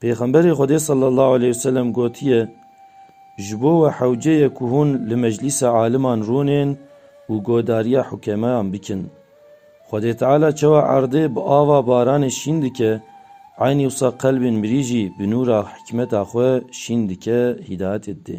Pêxemberê Xwedê sallallahu aleyh ve sellem gotiye, Ji bo we hewce ye ku hûn li meclîsa aliman rûnên û godariya hukemeyan bikin. Xwedê Teala çawa erdê bi ava baranê şîn dike, eynî wisa qelbên mirî jî bi nûra hikmeta xwe şîn dike, hîdayetê didê.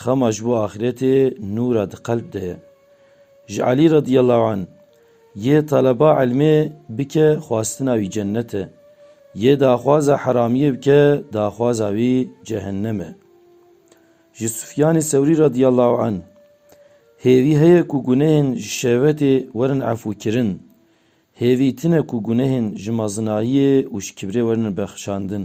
Xema ji bo axîretê nûra di qelb de ye. Ji Elî radîyallahu anh, Yê taleba îlmê bike xwastina wî cennet e, yê daxwaza heramiyê bike daxwaza wî cehennem e. Ji Sufyanê Sewrî radîyallahu anh, Hêvî heye ku gunehên ji şehwetê werin efûkirin, hêvî tune ku gunehên ji mezinayiyê û ji kibrê werin bexşandin.